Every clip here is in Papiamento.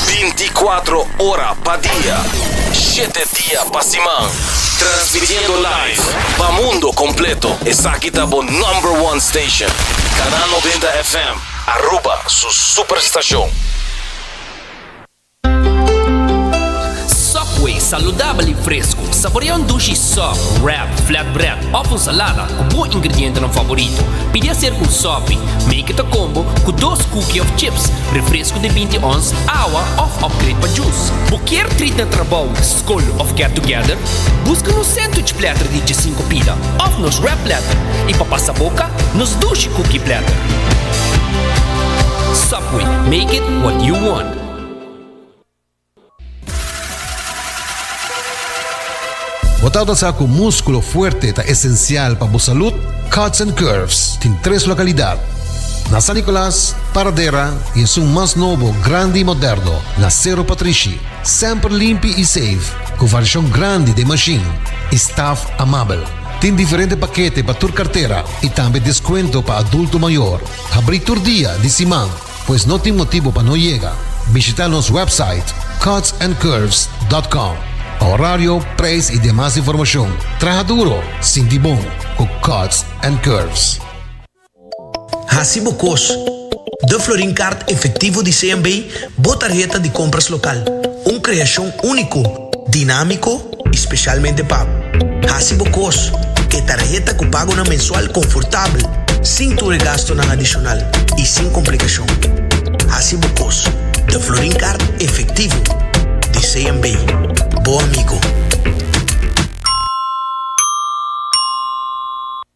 Binticuatro ora pa dia, shete dia pa siman. Transmitiendo live pa mundo completo. Esaki ta bo number one station. Canal Noventa FM, Aruba su superstacion. Subway, saludabel i fresku. Saborea un dushi sòp, wrap, flatbread òf un salada ku bo ingredientenan favorito. Pidi aserka un sòpi, make it a combo, ku dos kuki òf chips, refresku di binti ons, awa òf òpgrade pa jus. Bo kier trit na trabou, skol òf get together? Buska nos sandwich platter di djesinku pida òf nos wrap platter, i pa pasa boka, nos dushi kuki platter. We make it what you want. Bo ta ota sa ku múskulo fuerte ta esensial pa bo salud? Cuts and Curves tin tres lokalidat, na San Nicolas, Paradera i esun mas nobo, grandi i moderno, na Cerro Patrishi. Semper limpi i seif, ku variashon grandi den mashin i staf amabel. Tin diferente pakete pa tur kartera i tambe deskuento pa adulto mayor. Habrí tur dia di siman, pues no tin motibu pa no yega. Bishitá nos wèpsite cutsandcurves.com pa orario, preis i demas informashon. Traha duro, sinti bon ku Cuts and Curves. Hasi bo kos! The Florin Kaart Efektivo di CMB, bo tarheta di kompras lokal. Un kreashon úniko! dinámiko i spesialmente pa hasi bo kos ku e tarheta ku pagonan mensual konfortabel, sin tur e gastunan adishonal i sin komplikashon. Hasi bo kos den Florin Kart efektivo di CMB, bo amigo.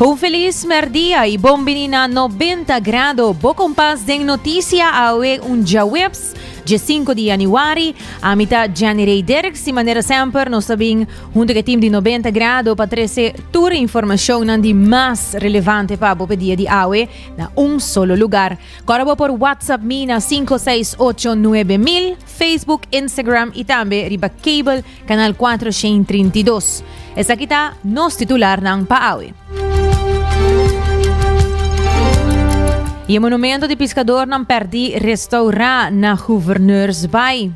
Un feliz merdia y bon bini na 90 grado. Bo kompas den notisia awe un djaweps, dje sinku di januari. Ami ta Jenny Rey Derk. Si manera semper nos ta bin Huntu k'e tim di Nobenta Grado pa trese tur informashonnan di mas relevante pa bo p'e dia di awe na un solo lugar. Kòrda bo por WhatsApp mi na sinku seis ocho nuebe mil, Facebook, Instagram i tambe riba cable kanal kuater shen trinta i dos. Esaki ta nos titularnan pa awe. Y e monumento di piscadornan perdi restaura na Gouverneursbaai.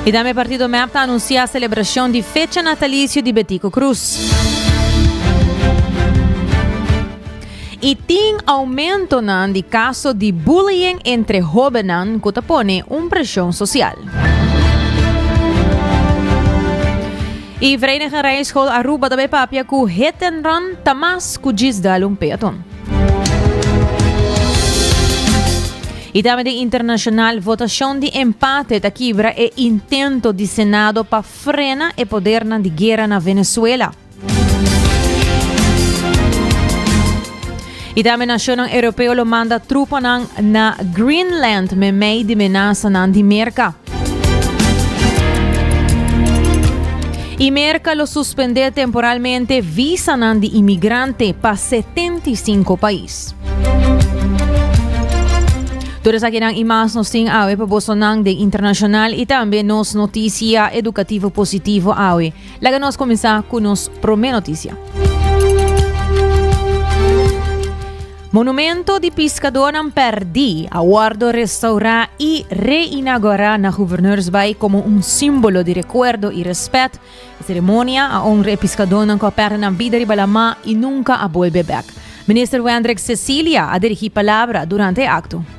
Y tambe partido MEP ta anuncia celebracion di fecha natalicio di Betico Cruz. y tin aumentonan di caso di bullying entre hobennan cu ta pone un presion social. Y Vereniging Rijschool Aruba ta papia cu hit and run ta mas cu djis dal un peaton. Y tambe den internacional, votacion di empate ta kibra e intento di Senado pa frena e podernan di guera na Venezuela. Y tambe nacionnan europeo lo manda trupanan na Greenland memey di menasanan di Merca. Y Merca lo suspende temporalmente visanan di inmigrante pa 75 pais. Tur esakinan y mas nos tin awe pa bosonan den internacional y tambe nos noticia educativo positivo awe. Laga nos kuminsá ku nos promé notisia. Monumento di piskadónan pèrdí a wòrdu restaurá i reinagorá na Gouverneursbaai komo un símbolo di rekuerdo i rèspèt. E seremonia a onra e piskadónan ku a pèrdè nan bida riba lamá i nunka a bolbe bèk. Minister Wendrick Cecilia a dirigí palabra durante e akto.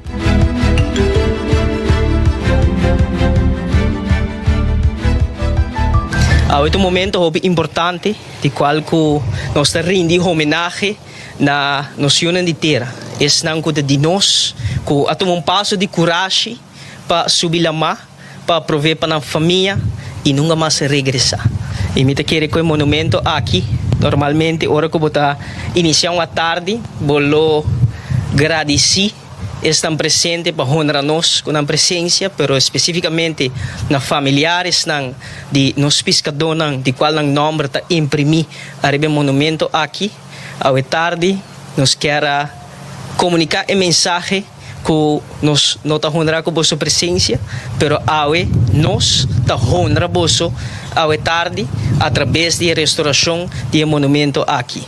Awe ta un momento hopi importante di cual cu nos ta rindi homenahe na nos yunan di tera. Esnan cu ta di nos, cu a tuma un paso di curashi pa subi lama. pa prove pa nan famia y nunga mas regresa. Y mi ta kere cu e monumento aki, normalmente ora cu bo ta inicia un atardi bo lo gradici esnan presente pa honra nos cu nan presencia, pero especificamente na familiaresnan di nos piscadónan di cual nan nomber ta imprimi ariba e monumento aki. Awe tardi nos kier a comunica e mensahe. Ku nos no ta honra ku boso presensia, pero awe nos ta honra boso awe tardi atrabes di e restorashon di e monumentu aki.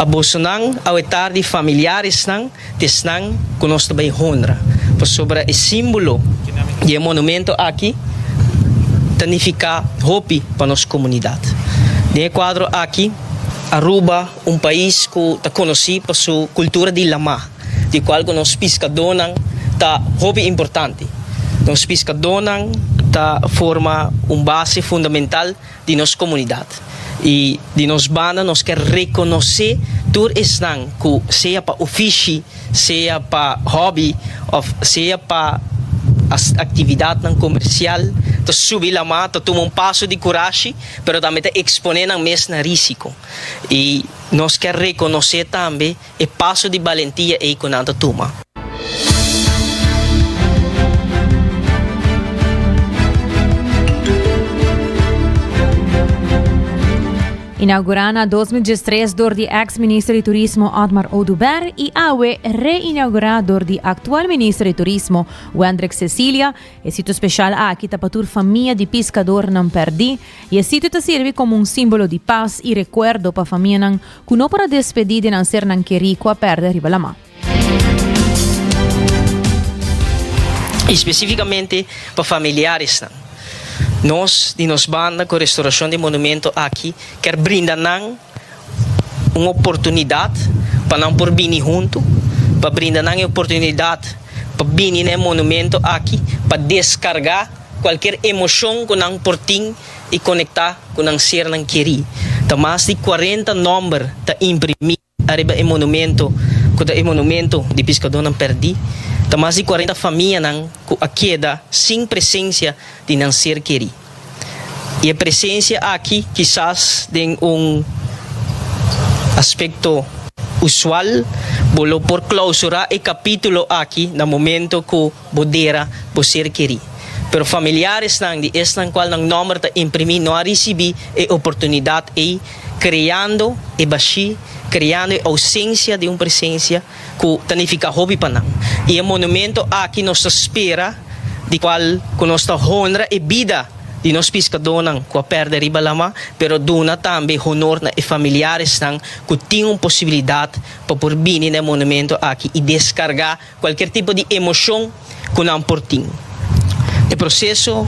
A bosonan awe tardi familiaresnan ta esnan ku nos ta bai honra, pasobra e símbolo di e monumentu aki ta nifiká hopi pa nos komunidat. Den e kuadro aki. Aruba, un pais ku ta konosí pa su kultura di lamá. di cual cu nos piscadónan ta hopi importante. Nos piscadónan ta forma un base fundamental di nos comunidad y di nos banda nos ker reconocé tur esnan cu sea pa ofishi, sea pa hobby of sea pa actividadnan comercial ta subi lama, ta tuma un paso di curashi pero tambe ta exponé nan mes na risico y nos ker reconocé tambe. E paso di balentia ei ku nan ta tuma. Inaugurá na dos mil diestres dor di eks minister di turismo Otmar Oduber i awe re-inaugurá dor di aktual minister di turismo Wendrick Cecilia, e sitio speshal aki ta pa tur famia di piskadornan pèrdí i e sitio ta sirbi komo un símbolo di pas i rekuerdo pa famianan Ku no por a despedí den nan sernan kerí ku a pèrdè riba laman. I spesífikamente pa familiaresnan, nos di nos banda ku Restaurashon di Monumentu aki kèr brinda nan un oportunidat pa nan por bini huntu, pa brinda nan e oportunidat pa bini na e monumentu aki pa deskargá kualker emoshon ku nan por tin. i konektá ku nan sernan kerí. Ta mas di kuarenta nòmber ta imprimí ariba e monumentu ku ta e monumentu di piskadónan pèrdí. Ta mas di kuarenta famianan ku a keda sin presensia di nan ser kerí. I e presensia aki kisas den un aspekto usual bo lo por klausurá e kapítulo aki na momentu ku. Bo dera bo ser kerí, pero familiaresnan di esnan kual nan nòmber ta imprimí no a risibí e oportunidat ei, kreando e bashí, kreando e ousensia di un presensia ku ta nifiká hopi pa nan. I e monumento aki nos ta spera di kual ku nos ta honra e bida di nos piskadónan ku a pèrdè riba lamá, pero duna tambe honor na e familiaresnan ku tin un posibilidat pa por bini na e monumento aki i deskargá Cualkier tipo di emocion cu nan por tin. E proceso,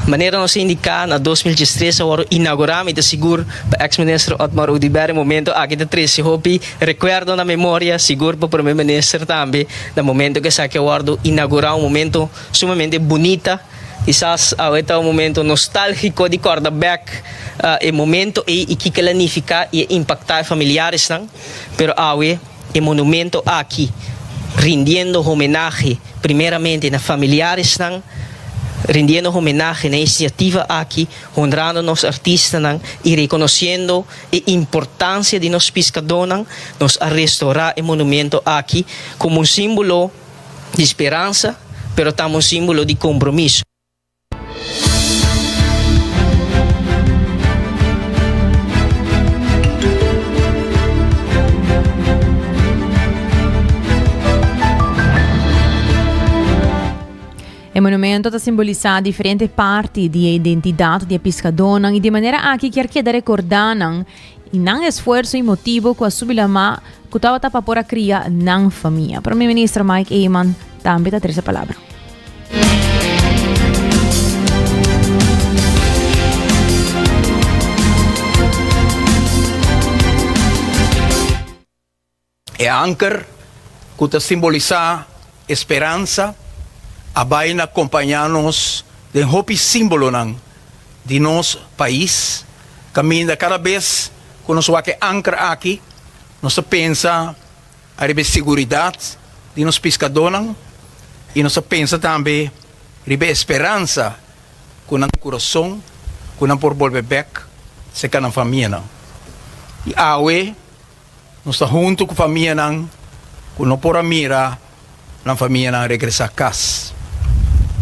manera nos a indica na dos mil diestres a worde inaugura, mi ta sigur pa Ex Minister Otmar Oduber e momento aki ta trece hopi recuerdo na memoria, sigur pa Prome Minister tambe na momento cu esaki a worde inaugura, un momento sumamente bunita, kisas awe ta un momento nostalgico di corda bek e momento ey y kico el a nifica y a impacta e familiaresnan, pero awe. E monumento aki, rindiendo homenahe primeramente na familiaresnan, rindiendo homenahe na e iniciativa aki, honrando nos artistanan y reconociendo e importancia di nos piscadornan, nos a restora e monumento aki como un simbolo di speransa pero tambe un simbolo di compromiso. E monumento ta simbolisa diferente parti di e identidat di e piskadónan i di manera aki kier keda rekordá nan y nan esfuerso y motibo cu a subi la ma cu tabata pa por a cria nan famia. Premier Minister Mike Eman tambe ta trece palabra. E anker, ku ta simbolisá e speransa, a bai na kompañá nos den hopi símbolonan di nos pais. Kaminda kada bes ku nos wak e anker aki, nos ta pensa ariba e siguridat di nos piskadónan i nos ta pensa tambe riba e speransa ku nan kurason ku nan por bolbe bèk serka nan famianan. I awe. Nos ta huntu ku famianan ku no por a mira nan famianan regresá kas.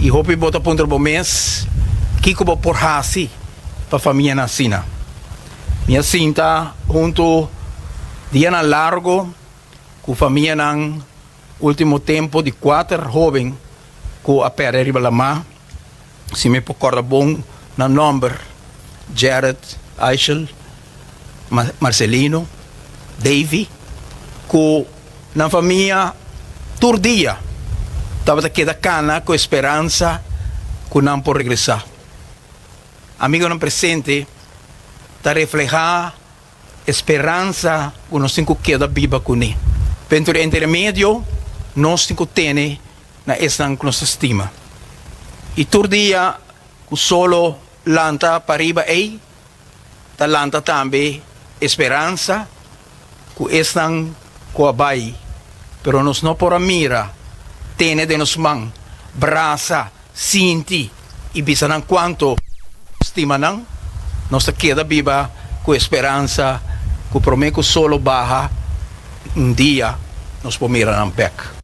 I hopi bo ta puntra bo mes, Kiko bo por hasi pa famianan asina? Mi a sinta huntu dianan largu ku famianan último tempu di kuater hóben ku a pèrdè riba lamá Si mi por corda bon nan nomber, Gerrit, Eichel, Marcelino, Davy, cu nan famia tur dia tabata keda cana cu e speransa cu nan por regresa. Amigonan presente ta refleha. e speransa ku nos tin ku keda biba kuné. Dentro di e intermedio nos tin ku tene na esnan ku nos ta stima. I tur dia ku solo lanta pariba ei ta lanta tambe e speransa ku esnan ku a bai, pero nos no por a mira, tene den nos man, brasa, sinti i bisa nan kuantu nos stima nan, nos ta keda biba ku e speransa ku promé ku solo baha un dia nos por mira nan bèk.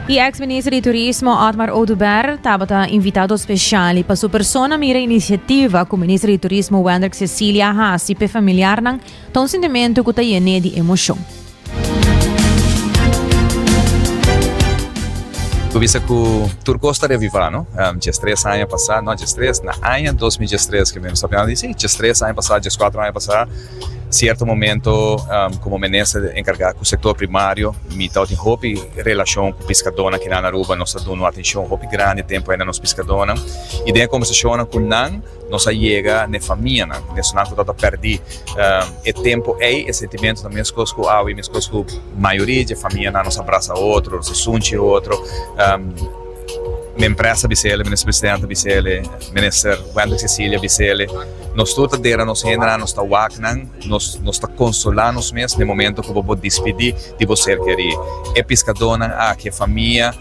Y ex minister di turismo Otmar Oduber tabata invitado special y pa su persona mira iniciativa cu minister di turismo Wendrick Cecilia hasi pe familiarnan Ta un sintimentu ku ta yen'é di emoshon. Ku bista ku tur kos ta reavivá, no? Djestres aña pasá, no djestres, na aña dos mil djestres ke nos ta plihando di si, djestres aña pasá, djeskuater aña pasá, sierto momento, komo minister enkargá ku sektor primario, mi tabata hopi relashon ku piskadónan kinan Aruba, nos ta duna un atenshon hopi grandi tempu ayina nos piskadónan, i den e kombersashonnan ku nan. Nos a yega na e famianan, na esunnan ku tabata pèrdí e tempu ei, e sentimentunan meskos ku awe, meskos ku mayoria di dje famianan. Nos a brasa otro, nos a sunchi otro. Mempresa a bisa el, Minister Presidente a bisa el, Minister Wendrick Cecilia a bisa el, nos tur ta dera nos hendenan, nos ta waknan, nos nos ta konsolá nos mes na e momento ku bo bo dispidí di bo ser kerí. E piskadónan aki, e famia,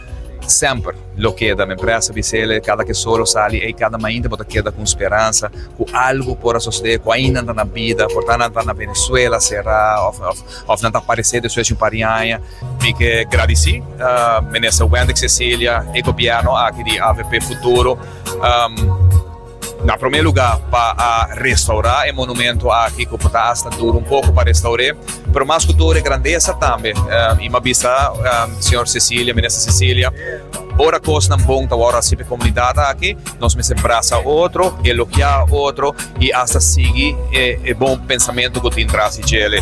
semper. Lo keda men presa di sele kada ke solo sali ei kada mainta bo ta keda ku un speransa ku algu por a sosede ku ainda nan ta na bida por ta nan ta na Venezuela sera of of nan ta aparesé despues di un par di aña. Mi ke gradisí Minister Wendy Cecilia e gobièrnu aki di avp Futuro. Na promé lugá pa a restaurá e monumento aki ku por ta asta duru un poko pa restaur'é, pero mas ku tur e grandesa tambe. I m'a bisa señor Cecilia, Minister Cecilia, ora kosnan bon ta wòrdu hasi pa e komunidat aki, nos mester brasa otro, elogiá otro i asta sigui e bon pensamentu ku tin tras di djele.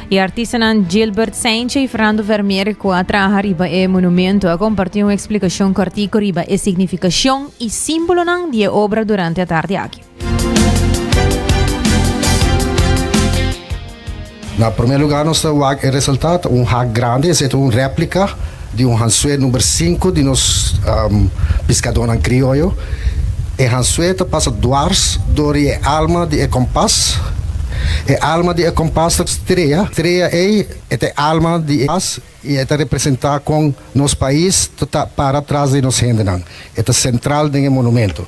E artistanan Gilbert Saintje i Fernando Vermeer ku a traha riba e monumento a kompartí un eksplikashon kòrtiku riba e signifikashon i símbolonan di e obra durante atardi aki. Na promé lugá nos ta wak e resultat, un hak grandi, esei ta un rèplika. Di un hansue number sinku di nos piskadónan krioyo, e hansue ta pasa dwars dor di e alma di e kompas. E alma di e kompas ta strea, strea ei e ta e alma di e kompas i e ta representá kon nos pais ta ta para tras di nos hendenan. E ta sentral den e monumentu.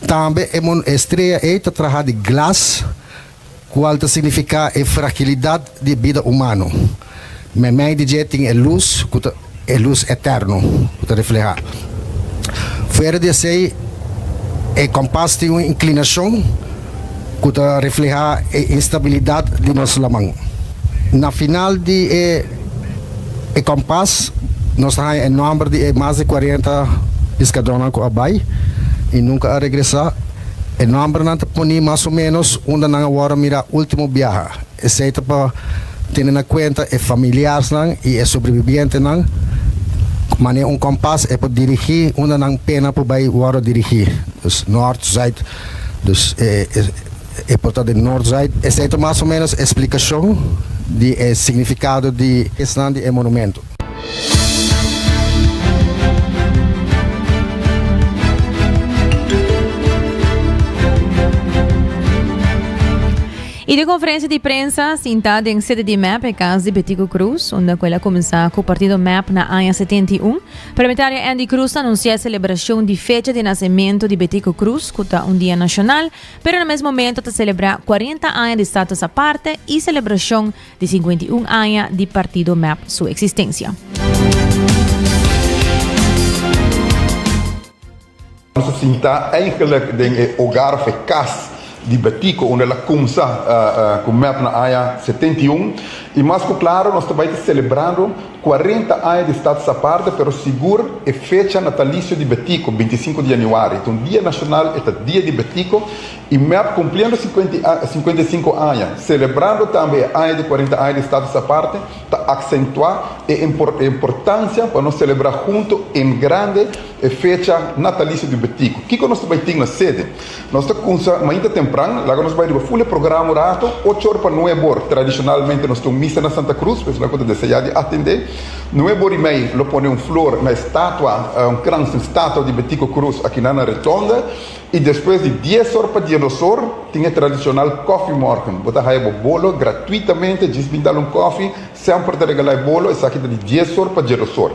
Tambe e strea ei ta traha di glas. Cual ta significa e fragilidad di e bida humano. Meimei di dje tin e luz cu ta e luz eterno cu ta refleha. Fuera di esey e compas tin un inclinacion cu ta refleha e instabilidad di nos laman. Na final di e e compas nos ta haya e nomber di e mas di cuarenta piscadornan cu a bay y nunca a regresa. E nòmbernan ta poni mas o ménos unda nan a wòrdu mirá último biaha. Esei ta pa tene na kuenta e familiarsnan i e sobrebibientenan, ku manera un kòmpas e por dirigí unda nan pena por bai wòrdu dirigí, dus nòrt, zuid, dus e por ta den nòrt, zuid. Esei ta mas o ménos e splikashon di e signifikado di esnan di e monumentu. I den konferensia di prensa sintá den sede di mep e kas di Betico Cruz, unda ku el a kuminsá ku partido mep na aña setenta i un, Parlamentario Andy Cruz a anunsiá e selebrashon di fecha di nasementu di Betico Cruz, ku ta un dia nashonal, pero na mes momentu ta selebrá kuarenta aña di status aparte i selebrashon Di sinkuenta i un aña di partido mep su eksistensia. Nos a sinta eigenlijk den e ogar of e kas di Betico unda el a kumsa ku mep na aña setenta i un. I mas ku klaro nos ta bai ta selebrando kuarenta aña di Status Aparte pero sigur e fecha natalisio di Betico, binti i sinku di yanüari. Itu un dia nashonal, e ta Dia di Betico I mep kumpliendo sinkuenta i sinku aña, selebrando tambe e aña di kuarenta aña di Status Aparte, ta aksentuá e importansia pa nos selebrá huntu en grande e fecha natalisio di Betico. Kiko nos ta bai tin na sede? Nos ta kumsa mainta tempran, laga nos bai riba ful e programa un ratu, ocho or pa nuebe or. Tradishonalmente nos tin un misa na Santa Cruz, p'esei nan ku ta deseá di atendé. Nuebe or i mei lo pone un flor na e statua, un gran statua di Betico Cruz, akinan na Retonda. I despues di dies or pa diados or tin e tradishonal kòfimòrgn. Bo ta haya bo bolo gratuitamente, djis bin dal un kòfi, semper ta regalá e bolo, esaki ta di dies or pa diados or.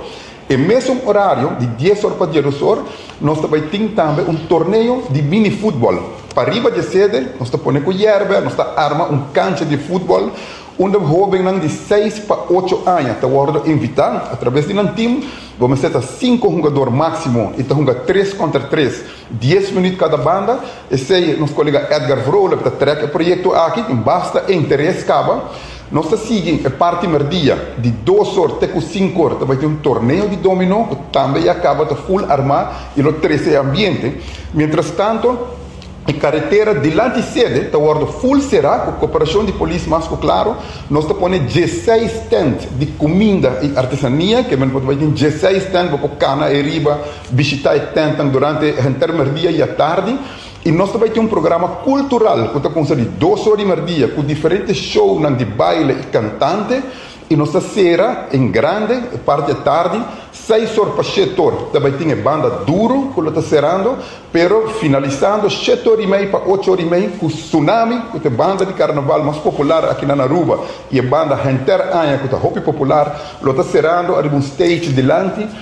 E mesun orario di dies or pa diados or nos ta bai tin tambe un torneo di minifutbòl. Pariba di e sede nos ta pone ku yèrbè, nos ta arma un kancha di futbòl unda hóbennan di seis pa ocho aña ta wòrdu invitá. Atrabes di nan tim, bo mester ta sinku hungador máksimo i ta hunga tres kòntra tres. Dies minüt kada banda, esei nos kolega Edgar Vrolijk ta trèk e proyekto aki, basta e interes kaba, nos ta sigui e parti mèrdia, di dos or te ku sinku or ta bai tin un torneo di dominó ku tambe ya kaba ta ful armá i lo trese e ambiente. Mientrastanto, e karetera dilanti sede ta wòrdu ful será ku koperashon di polis mas ku klaro, nos ta pone diesei stènt di kuminda i artesania, kebien no por ta bai tin diesei stènt bo por kana ei riba Bishita e tentan durante e henter merdia i atardi i nos ta bai tin un programa kultural ku ta kumsa di dos ora di merdia ku diferente shownan di baile i kantante i nos ta sera en grande e parti di atardi seis or pa shete or ta bai tin e banda duru ku lo ta serando pero finalisando shete or i mei pa ocho or i mei ku Sunami ku ta e banda di karnaval mas popular aki na na Aruba i e banda henter aña ku ta hopi popular lo ta serando ariba un stage dilanti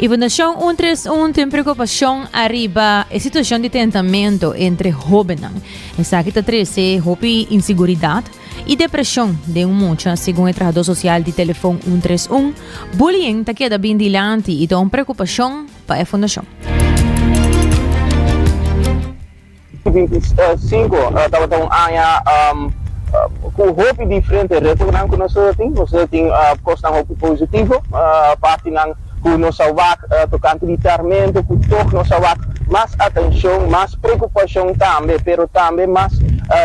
Y Fundacion Un Tres Un tin preocupacion ariba e situacion di tentamento entre hobennan. Esaki ta trece hopi inseguridad y depresion den un mucha, segun e trahador social di telefon Un Tres Un. Bullying ta keda bin dilanti y ta un preocupacion pa e fundacion. I binti sinku tabata un aña ku hopi diferente retonan ku nos a tin. Nos a tin kosnan hopi positivo, partinan ku nos a wak tokante di tarmento ku tok nos a wak mas atenshon, mas preokupashon tambe, pero tambe mas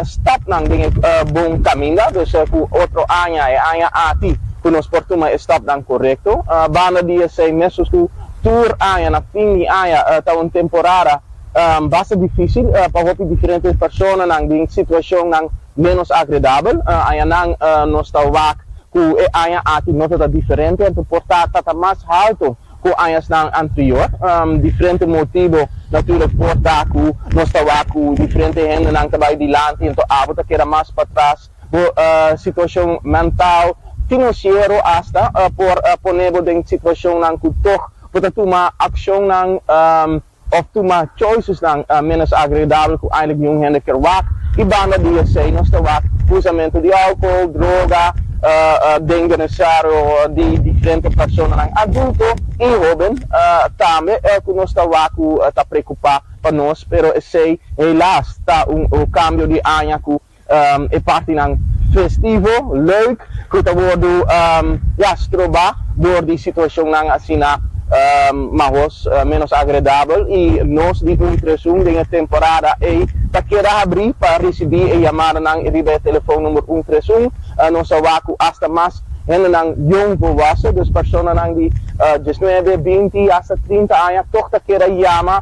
stòpnan den e bon kaminda. Dus ku otro aña, e aña aki, ku nos por tuma e stòpnan korekto. Banda di esei, mesun ku tur aña na fin di aña ta un temporada, Basta difísil pa hopi diferente personanan den situacionnan ménos agredabel. Añanan nos ta wak cu e aña aki no ta ta diferente, anto por ta ta ta mas halto cu añasnan anterior. Diferente motibo natúrlek por ta cu nos ta wak cu diferente hendenan ta bai dilanti anto abo ta keda mas patras. Bo situacion mental, financiero asta por ponebo den situacionnan cu tog bo ta tuma accionnan. òf tuma choicesnan ménos agreidabel ku eindelijk niun hende ker wak, i banda di esei nos ta wak usamentu di alkohol, droga, den benestar di diferente personanan adulto i hóben tambe. El ku nos ta wak ku ta preokupá pa nos, pero esei helaas ta un kambio di aña ku E partinan festivo, leuk, ku ta wordu ya stroba dor di situashonnan asina mahos menos agredabel i nos di Ultrasun den e temporada ei ta keda habrí pa risibí e yamadanan riba e telefonnumber Ultrasun. Nos a wak ku asta mas hendenan yon, volwassen, dus personanan di djisnuebe, binti i asta trinta aña tòg ta keda yama.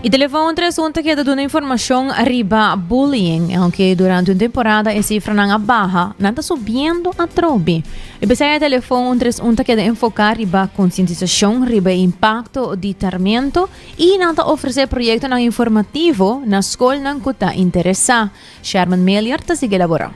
E telefoon tres un ta keda duna informashon riba bullying. E aunke durante un temporada e sifranan a baha, nan ta subiendo atrobe. E p'esei e telefoon un tres un ta keda enfoká riba konsientisashon riba e impakto di tarmento i nan ta ofresé proyektonan informativo na skolnan ku ta interesá. Sherman Melior ta sigui elaborá.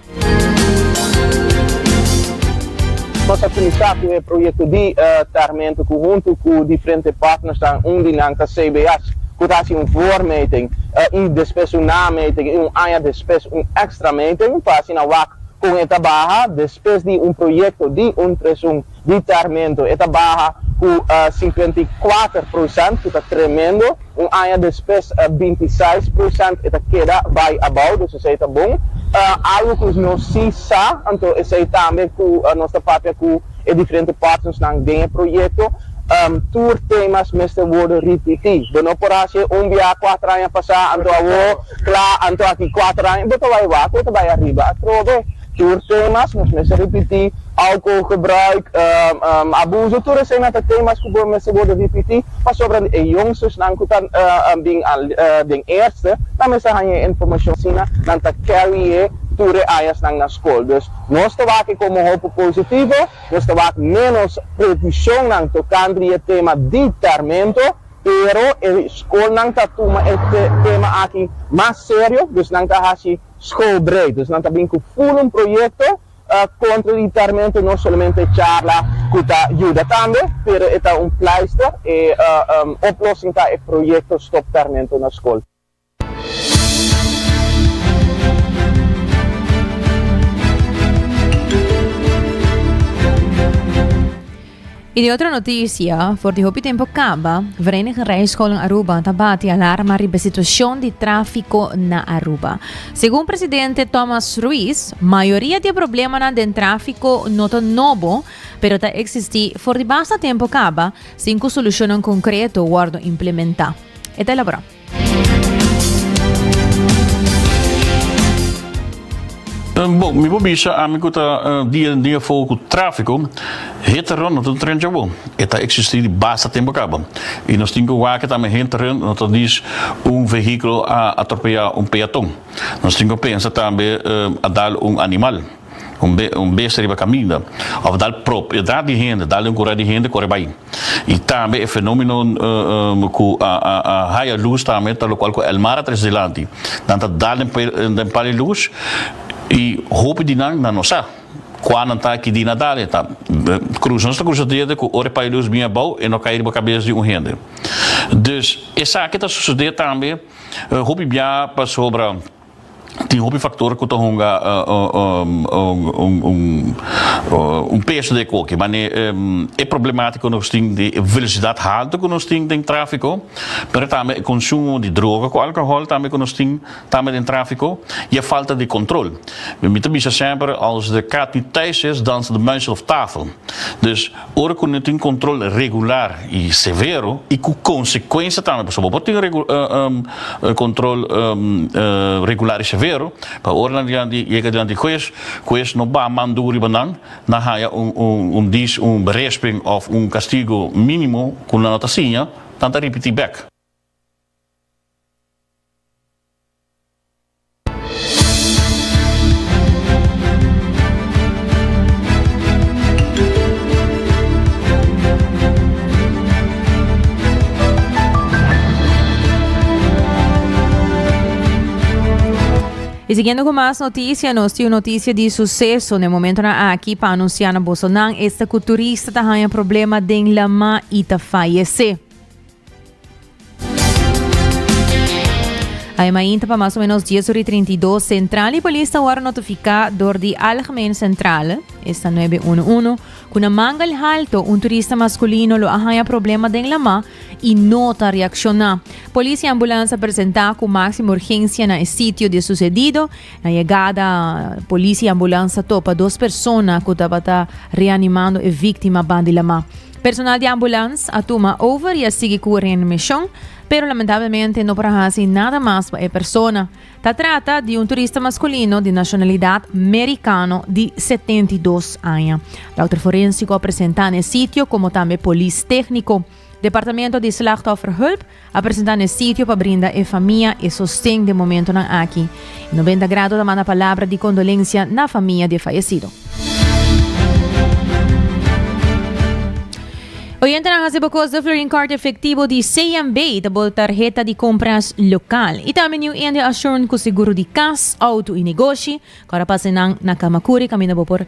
Nos a kuminsá ku e proyekto di Tarmento ku huntu ku diferente partnernan unda nan ta CBS ku ta hasi un voormeting i despues un nameting i un aña despues un extra meting pa asina wak kon e ta baha despues di un proyekto di un presun di Termento. E ta baha cu cincuenta y cuater procent, cu ta tremendo. Un aña despues binti seis procent. E ta keda bay abao, dus esey ta bon. Algo cu nos si sa, anto esey tambe cu nos ta papia cu e diferente partnersnan den e proyecto, tur temas mester wordo ripiti. Bo no por haci e un biaha cuater aña pasa, anto awor cla, anto aki cuater aña, bo ta bay wak, bo ta bay ariba atrobe. Tur temas nos mester ripití, alkoholgebruik, abuso, tur eseinan ta temas ku bo mester wòrdu ripití pasobra e youngstersnan ku ta bin den earste nan mester haña e informashon asina nan ta carry e tur e añasnan na skol. Dus nos ta wak e komo hopi positivo, nos ta wak ménos previshonnan tokante di e tema di tèrmento, pero e skolnan ta tuma e tema aki mas serio, dus nan ta hasi. School break, dus nan ta bin ku ful un proyekto kontra di tarmento, no solamente charla ku ta yuda tambe, pero e ta un pleister, e oplosing ta e proyekto Stop Tarmento na Skol. I di otro notisia, for di hopi tempu kaba, Vereniging Rijscholen Aruba ta bati alarma riba e situashon di tráfiko na Aruba. Segun presidente Thomas Ruiz, mayoria di e problemanan den tráfiko no ta nobo, pero ta eksistí for di basta tempu kaba sin ku solushonnan konkreto wòrdu implementá. E ta elaborá. Bon, mi bo bisa ami ku ta dia den dia fogo ku tráfiko, hete rònt no ta tren chabó. E ta eksistí di basta tempu kaba. I nos tin ku wak tambe hete rònt no ta dis un vehíkulo a atropeyá un peaton. Nos tin ku pensa tambe a dal un animal, un besta riba kaminda òf dal propedad di hende, dal den un kurá di hende kore bai. Y tambe e fenomeno cu a haya luz tambe ta locual cu Elmar a trece dilanti. Nan ta dal den pal e luz y hopi di nan nan no sa cua nan ta, ki di na dal. Ta cruza, nos ta cruza diadia cu ora e pal e luz bini abao e no cay riba cabeza di un hende. Dus esaki ta sucede tambe hopi biaha pasobra. Tin hopi factor cu ta hunga un peso den e coke. Mane e problematica cu nos tin di e velocidad halto cu nos tin den trafico, pero tambe e consumo di droga cu alcohol tambe cu nos tin tambe den trafico y e falta di control. Mi ta bisa semper, als de kat niet thuis is, danst de muis op tafel. Dus, Ora cu no tin control regular y severo y cu consecuencia tambe, pasobra bo por tin control regular y severo, pa ora nan yega dilanti di huez, huez no baha man duru riba nan, nan haya un dis, un berisping of un castigo minimo cu nan no ta siña, nan ta ripiti bek. Y siguiendo con más noticia, nos tiene noticia de suceso. De momento na aquí para anunciar na bosonan, este culturista ta haya problema den lama y ta fallece. Ai mainta pa más o menos 10 ori 32 Centraal y Polis ta word notifica door di Algemeen Centrale, esta 911, cu na Mangal Halto un turista masculino lo a haya problema den lama y no ta reacciona. Polis y ambulance a presenta cu maximo urgencia na e sitio di e sucedido. Na yegada polis y ambulance a topa dos persona cu tabata reanimando e victima ban di lama. Personal di ambulans a tuma over y a sigui cu ren mision, pero lamentablemente no por a haci nada mas pa e persona. Ta trata di un turista masculino di nacionalidad Mericano di setenta i dos aña. Dokter forensico a presenta n'e sitio como tambe polis tecnico. Departamento di Slachtofferhulp a presenta n'e sitio pa brinda e famia e sosten den momentonan aki. E Noventa Grado ta manda palabra di kondolensia na famia di e fayesido. Oyentenan hasi bo kos di Florin Kort Efektibo di CNB ta bo tarheta di kompras lokal i tambe New India Assurant ku seguro di kas, outo i negoshi. Kòr a pasa nan na Kamakuri kaminda bo por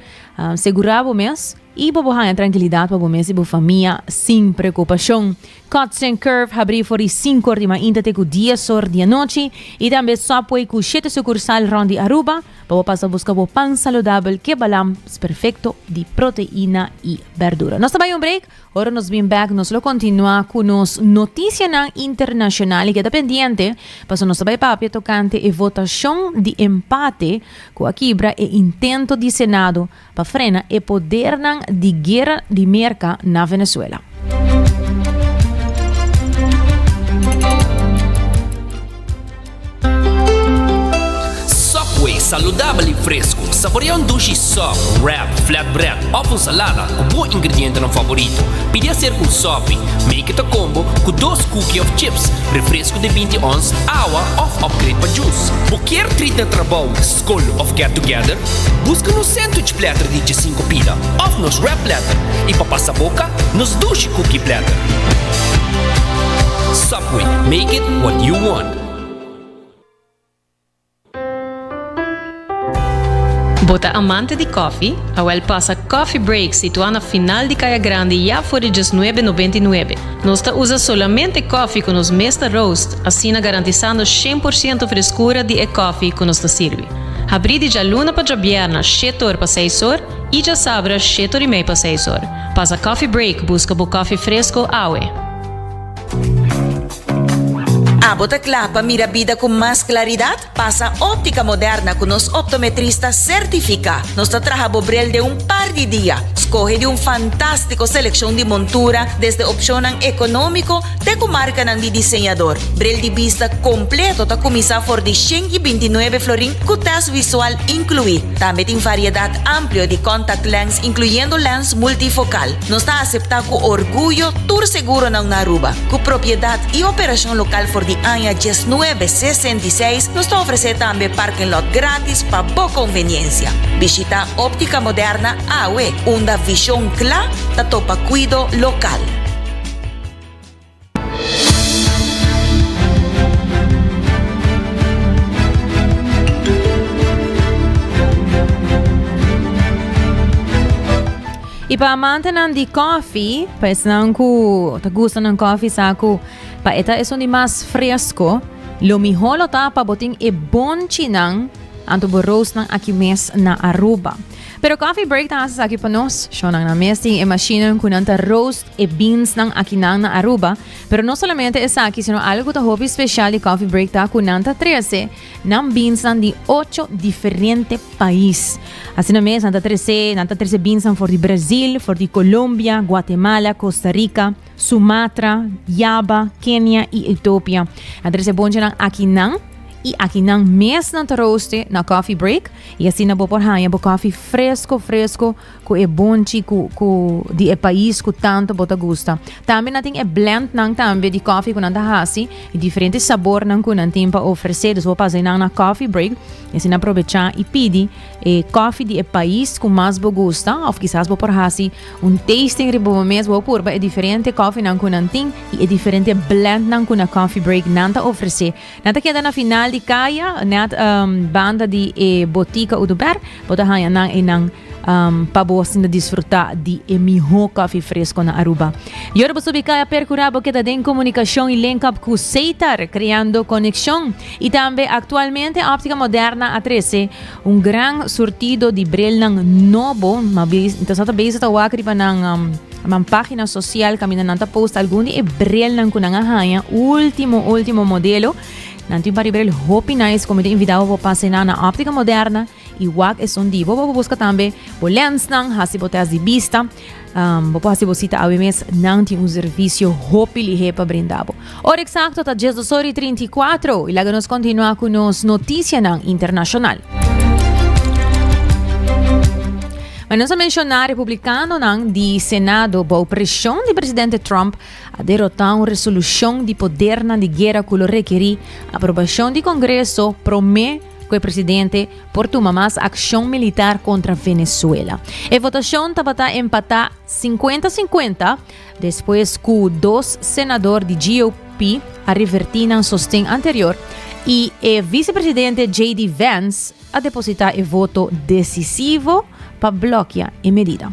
segurá bo mes i pa bo haña trankilidat pa bo mes i bo famia sin preokupashon. Cuts and Curve habrí for di sinko'or di mainta te ku diezor di anochi i tambe Subway ku shete sukursal rònt di Aruba pa bo pasa buska bo pan saludabel ke balans perfekto di proteina i bèrdura. Nos ta bai un break, ora nos bin bèk nos lo kontinuá ku nos notisianan internashonal i keda pendiente paso nos ta bai papia tokante e votashon di empate ku a kibra e intento di Senado pa frena e podernan di guera di Merka na Venezuela. Subway, saludabel i fresku. Saborea un dushi sub, wrap, flatbread òf un salada ku bo ingredientenan favorito. Pidi a ser ku un sopi, make it a combo, ku dos kuki òf chips, refresku di binti ons, awa òf upgrade pa jus. Bo kier treat na trabou? Skol of Get Together? Buska nos sandwich platter di dje sinku pila of nos wrap platter i pa pasa boka nos dushi cookie platter. Subway, make it what you want. Bo ta amante di kòfi? Awèl pasa Coffee Break situá na final di Kaya Grandi ya for di dies nuebe nobenta i nuebe. Nos ta usa solamente kòfi ku nos mes ta roast. Asina garantisando shen por ciento freskura di e kòfi ku nos ta sirbi. Habrí di djaluna pa djabièrna shete or pa seis or i djasabra shete or i mei pa seis or. Pasa kòfi break buska bo kòfi fresko awe. Abo ta kla pa mira bida ku mas klaridat? Pasa Optica Moderna cu nos optometrista certifica. Nos ta traha bo bril den un par di dia. Scoge di un fantastico seleccion di montura desde opcionnan economico te cu marcanan di diseñador. Bril di bista completo ta cuminsa for di shen y binti nuebe florin cu test visual inclui. Tambe tin variedad amplio di contact lens incluyendo lens multifocal. Nos ta aseptá ku orguyo tur seguronan na Aruba. Ku propiedat i operashon lokal for di aña diesnuebe sesenta i seis, nos ta ofresé tambe parking lot gratis pa bo konveniensia. Bishita Optica Moderna awe, unda vishon kla ta topa kuido lokal. Y pa amantenan di coffee, pa esnan cu ta gusta nan coffee sa cu pa eta esun di mas fresco, lo mihor lo ta pa botin e bonchinan anto bo roostnan aki mes na Aruba. Pero Coffee Break ta haci esaki pa nos. Shonan nan mes tin e machinan cu nan ta roast e binsnan akinan na Aruba, pero no solamente esaki sino algo ku ta hopi speshal di Coffee Break ta ku nan ta trese nan binsnan di ocho diferente pais. Asina mes nan ta trese, nan ta trese binsnan for di Brazil, for di Colombia, Guatemala, Costa Rica, Sumatra, Java, Kenia i Etiopia. Nan trese bonchenan akinan i akinan mes nan ta roaste na Coffee Break i asina bo por haña bo koffie fresko fresko ku e bonchi ku ku di e pais ku tanto bo ta gusta. Tambe nan tin e blend nan tambe di koffie ku nan ta hasi i diferente sabor nan ku nan tin pa ofrece dus bo pasa nan na coffee break i asina probecha i pidi e koffie di e pais ku mas bo gusta of kisas bo por hasi un tasting riba bo mes bo purba e diferente koffie nan ku nan tin i e diferente blend nan ku na coffee break nan ta ofrece Nan ta keda na final di kaya, nèt banda di e Botica Oduber. Bo ta haña nan einan pa bo hasinda disfrutá di e mihó kòfi fresko na Aruba. Y ora bo subi kaya perkurá bo keda den komunikashon y link-up ku Seitar, kreando konekshon. Y tambe aktualmente Optica Moderna a trese Un gran surtido di brelnan nobo, ma tasata bezig ta wak riba nan um, man página social caminda nan ta post algun di e brelnan ku nan a haña, último último modelo. Nan tin pari brel hopi nice como te invitado bo pase na na óptica moderna i wak esun di bo bo busca tambe bo lensnan, hasi bo test di bista. Um, bo por hasi bo cita awe mes, nan tin un servicio hopi lihe pa brindabo. Ora exacto ta 10 dos ori 34 y laga nos continua con nos noticia nan internacional. Maar nos a menciona republicano nan di Senado bou presión di presidente Trump a derrota un resolución di poder nan di guerra culo requeri aprobación di Congreso prome ku e presidente por tuma mas akshon militar kontra Venezuela. E votashon tabata empatá sinkuenta sinkuenta despues ku dos senador di GOP a revertí nan sosten anterior i e visepresidente JD Vance a depositá e voto desisivo pa blòkia e medida.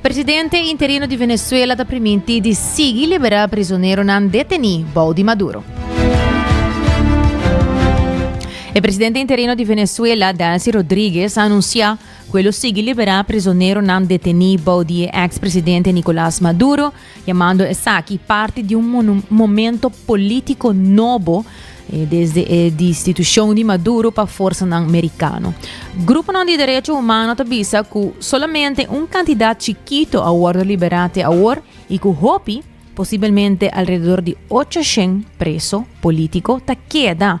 Presidente interino di Venezuela ta primintí di sigui liberá prisoneronan detení bou di Maduro. E presidente interino di Venezuela, Delcy Rodríguez, a anunsiá ku e lo sigui liberá prisoneronan detení bou di e eks presidente Nicolás Maduro, Yamando esaki parti di un momento polítiko nobo desde e distitushon di Maduro pa forsanan merikano. Gruponan di derecho humano ta bisa ku solamente un kantidat chikito a wòrdu liberá te awor i ku hopi, posibelmente alrededor di ocho shen preso polítiko ta keda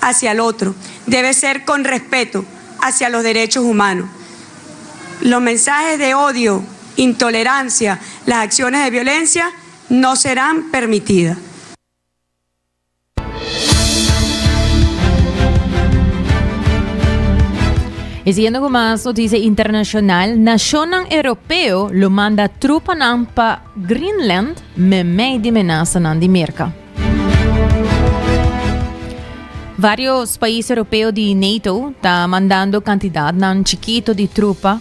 hacia el otro debe ser con respeto hacia los derechos humanos. Los mensajes de odio, intolerancia, las acciones de violencia no serán permitidas. Y siguiendo con más noticias internacional, nacionnan europeo lo manda trupanan pa Greenland memey di menasanan di Merca. Varios pais europeo di NATO ta mandando cantidadnan chiquito di trupa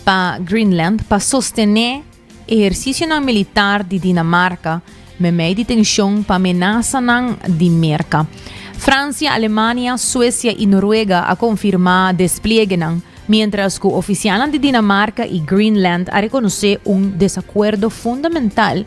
pa Greenland pa sostené ejercicionan militar di Dinamarca memey di tension pa menasanan di Merca. Francia, Alemania, Suecia y Noruega a confirma despliegenan, mientras cu oficialnan di Dinamarca y Greenland a reconoce un desacuerdo fundamental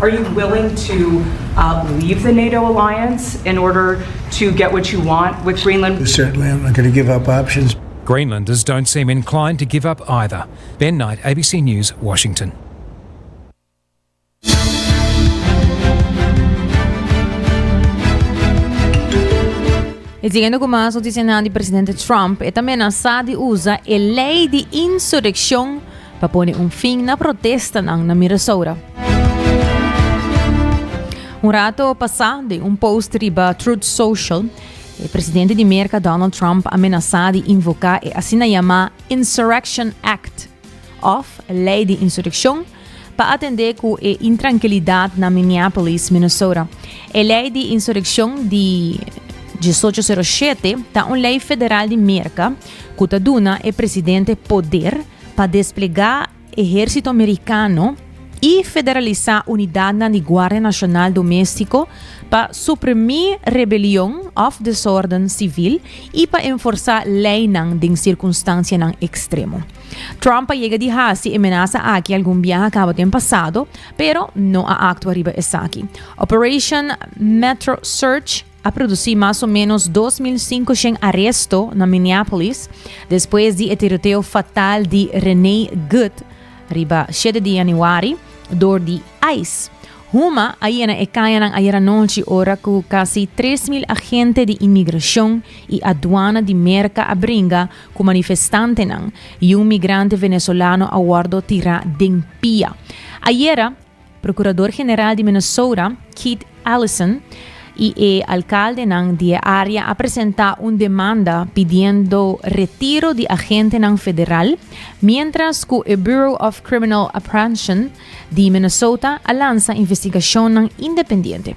Are you willing to leave the nato alliance in order to get what you want with Greenland? Certainly I'm not gonna give up options. Greenlanders don't seem inclined to give up either. Ben Knight, ABC News, Washington. E siguiendo cu mas noticianan di presidente Trump, e ta menasa di usa e ley di insureccion Pa pone un fin na protestanan na Mirasoura. Un rato pasá, den un post riba Truth Social, e presidente di Merka Donald Trump a menasá di invoká e asina yamá Insurrection Act, òf Lei di Insurekshon, pa atendé ku e intrankilidat na Minneapolis, Minnesota. E Lei di Insurekshon di diesocho sero shete ta un lei federal di Merka ku ta duna e presidente poder pa desplegá Ehérsito Amerikano i federalisá unidadnan di Guardia Nashonal Doméstiko pa suprimí rebelion òf desòrden sivil i pa enforsá leinan den sirkunstansianan ekstremo. Trump a yega di hasi e menasa aki algun biaha kaba den pasado, pero no a aktua riba esaki. Operation Metro Search a produsí mas o ménos dos mil sinku shen aresto na Minneapolis despues di e tiroteo fatal di Renee Good riba shete di yanüari dor di ice. Huma a yena e kañanan ayer anochi ora ku kasi tres mil agente di inmigrashon i aduana di Merka a bringa ku manifestantenan i un migrante venezolano a wòrdu tirá den pia. Ayera, Procurador General di Minnesota, Keith Ellison, y e alcaldenan di e area a presenta un demanda pidiendo retiro di agentenan federal, mientras cu e Bureau of Criminal Apprehension di Minnesota a lansa investigacionnan independiente.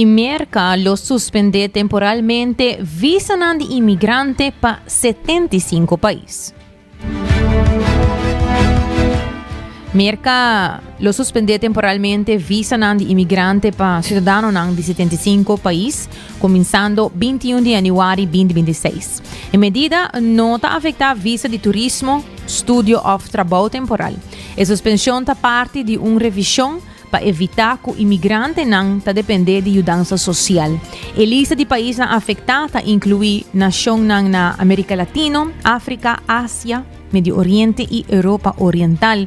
y Merca lo suspendé temporalmente visanan di inmigrante pa 75 pais. Merca lo suspendé temporalmente visanan di inmigrante pa ciudadanonan di 75 pais, comenzando 21 di januari 2026. E medida no ta afektá visa di turismo, studio òf trabou temporal. E suspenshon ta parti di un revishon pa evitá ku imigrantenan ta dependé di yudansa sosial. E lista di paisnan afektá ta inkluí nashonnan na Amerika Latino, Afrika, Asia, Medio Oriente i Europa Oriental,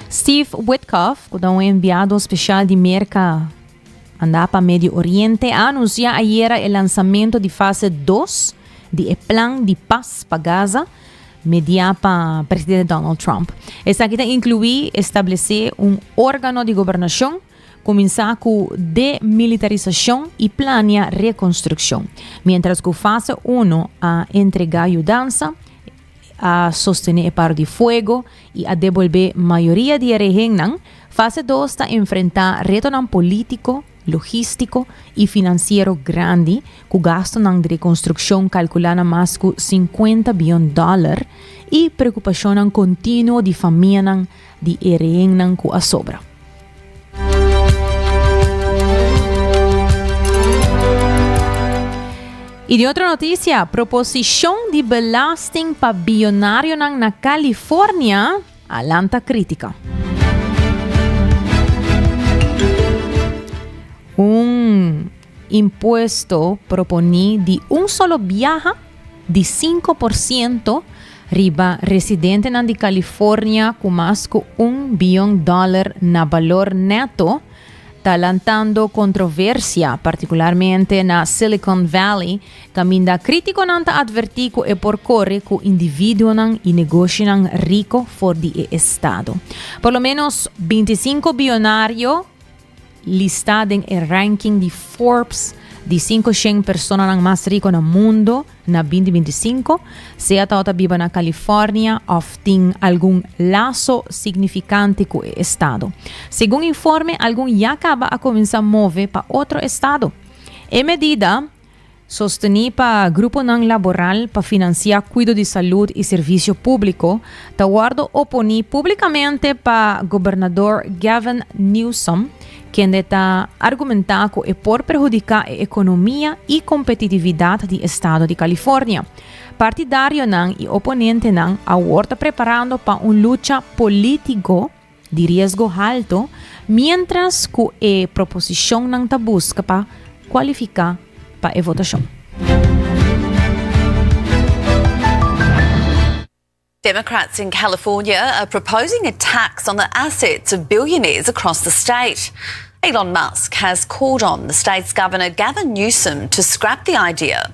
Steve Witkoff, cu ta un enviado special di Merca manda pa Medio Oriente, a anuncia ayera e lanzamento di fase dos di e plan di pas pa Gaza media pa presidente Donald Trump. Esaki ta inclui establece un organo di gobernacion, cuminsa cu demilitarisacion y plania reconstruccion, mientras cu fase uno a entrega yudansa, a sostené e paro di fuego i a debolbé mayoria di e rehennan, fase dos ta enfrentá retonan polítiko, logístiko i finansiero grandi, ku gastunan di rekonstrukshon kalkulá na mas ku sinkuenta biyon dòler i preokupashonnan kontinuo di famianan, di e rehennan ku a sobra. I di otro notisia, proposishon di belasting pa biyonarionan na California a lanta krítika. Un. Impuesto proponí di un solo biaha di sinku por siento riba residentenan di California ku mas ku un biyon dòler na balor neto ta lantando kontroversia, partikularmente na Silicon Valley, kaminda krítikonan ta atvertí ku e por kore ku individuonan i negoshinan riko for di e estado. Por lo ménos binti sinku biyonario. Listá den e ranking di Forbes di sinku shen personanan mas riko na mundu na binti binti sinku, sea ta bo ta biba na California òf tin algun laso signifikante ku e estado. Segun informe, algun ya kaba a kuminsá move pa otro estado. E medida. Sostení pa gruponan laboral pa finansiá kuido di salud i servisio públiko ta wòrdu oponí públikamente pa Gobernador Gavin Newsom, kende ta argumentá ku e por perhudiká e ekonomia i kompetitividat di estado di California. Partidarionan i oponentenan awor ta preparando pa un lucha polítiko, di riesgo halto, miéntras ku e proposishonnan ta buska pa kualifiká pa e votashon. Democrats in California are proposing a tax on the assets of billionaires across the state. Elon Musk has called on the state's governor Gavin Newsom to scrap the idea.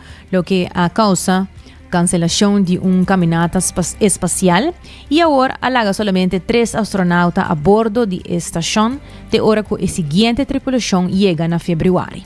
loke a causa cancelacion di un caminata espacial y awor a laga solamente tres astronauta a bordo di e stacion te ora cu e siguiente tripulacion yega na februari.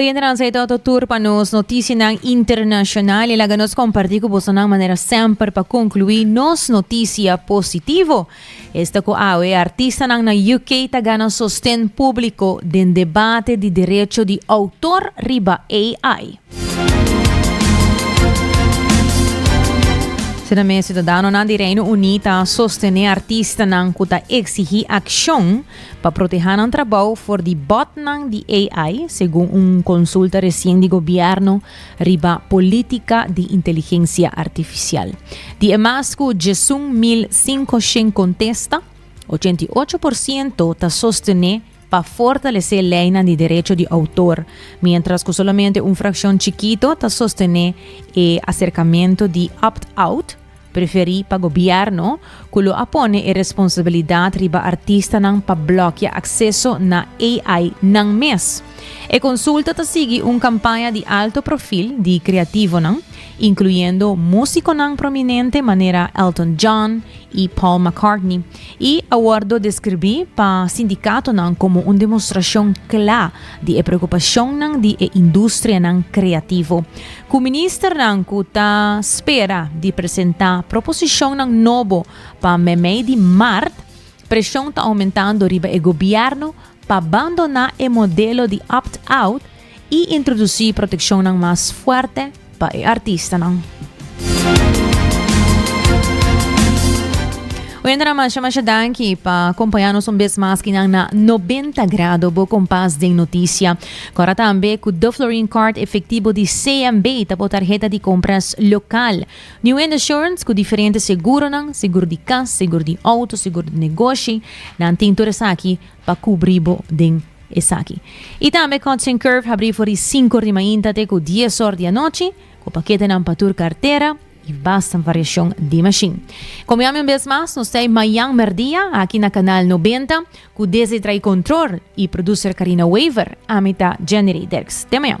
Oyentenan, sa e toto tur pa nos notisianan internashonal. E laga nos kompartí ku bosonan manera semper pa konkluí nos notisia positivo. Esta ku awe artistanan na UK ta gana sosten públiko den debate di derecho di outor riba AI. Asina mes, siudadanonan di Reino Uní ta sostené artistanan ku ta eksigí akshon. Pa protehá nan trabou for di bòtnan di AI, segun un konsulta resien di gobièrnu riba polítika di inteligensia artifisial. Di e mas ku djesun mil sinku shen kontesta, ochenta i ocho por siento ta sostené pa fortalesé leinan di derecho di outor, miéntras ku solamente un frakshon chikito ta sostené e aserkamentu di opt-out, Preferí pa gobièrnu ku lo a pone e responsabilidat riba artistanan pa blòkia akseso na AI nan mes. E konsulta ta sigui un kampaña di alto profil di kreativonan, inkluyendo músikonan prominente manera Elton John i Paul McCartney, i a wòrdu deskribí pa sindikatonan komo un demostrashon kla di e preokupashonnan di e industrianan kreativo. Ku ministernan ku ta spera di presentá proposishonnan nobo pa mei-mei di mart, preshon ta oumentando riba e gobièrnu pa bandoná e modelo di opt-out i introdusí protekshonnan mas fuerte pa e artistanan. Oyentenan masha masha danki pa kompañá nos un bes mas kinan na Nobenta Grado, bo kompas den notisia. Kòrda tambe ku The Florin Card efektibo di CMB ta bo tarheta di kompras lokal. New Wind Assurance ku diferente seguronan, segur di kas, segur di outo, segur di negoshi, nan tin tur esaki pa kubrí bo den esaki. I tambe Cots and Curve habrí for di sinku di mainta te ku dies òr di anochi, ku paketenan pa tur kartera i basta variashon di mashin. Komiami un bes mas nos tei mañan merdia aki na Kanal Nobenta ku Desi tra'i kontrol i produser Karina Wever, ami ta Jennery Dirks. Te mañan.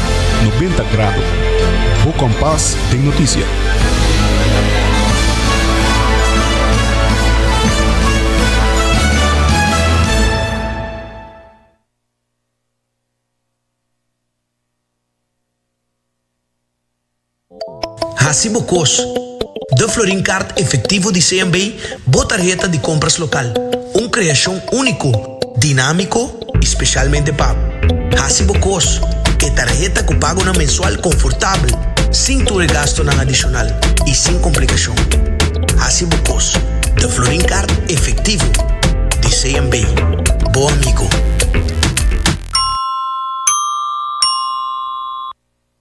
Nobenta Grado, bo kompas den noticia. Hasi bo kos. The Florin Kaart Efektivo di CMB bo tarheta di kompras lokal, un kreashon úniko, dinámiko i spesialmente pa Hasi bo kos ku e tarheta ku pagonan mensual konfortabel, sin tur e gastunan adishonal i sin komplikashon. Hasi bo kos. The Florin Kaart Efektivo di CMB, bo amigo.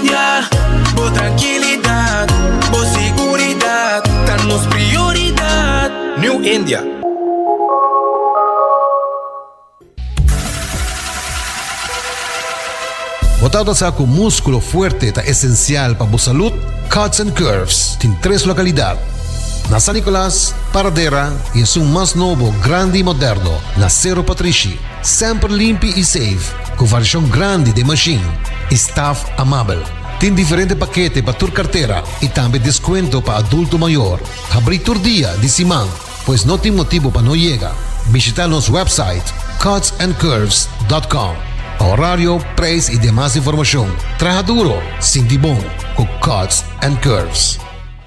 Ya, bo trankilidat, bo siguridat ta nos prioridat. New India. Bo ta ota sa ku múskulo fuerte ta esensial pa bo salud? Cuts and Curves tin tres lokalidat, na San Nicolas, Paradera i esun mas nobo, grandi i moderno, na Cerro Patrishi. Semper limpi i safe. Cu varishon grandi den machine y staff amabel. Tin diferente pakete pa tur kartera y tambe descuento pa adulto mayor. Habrí tur dia di siman, pues no tin motibo pa no yega. Bishita nos website cutsandcurves.com pa horario, prijs y demas informacion. Traha duro, sinti bon cu Cuts and Curves.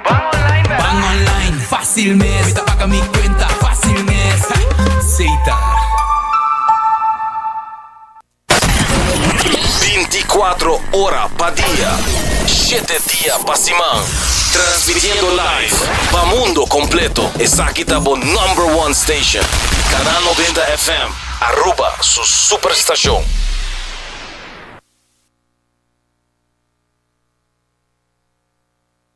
Ban online mes. Ban online fácil mes. Mi ta paga mi cuenta fácil mes. Seita. Binti kuatro ora pa dia, shete dia pa siman. Transmitiendo live pa mundo completo. Esaki ta bo number one station. Canal Noventa FM, Aruba su super stacion.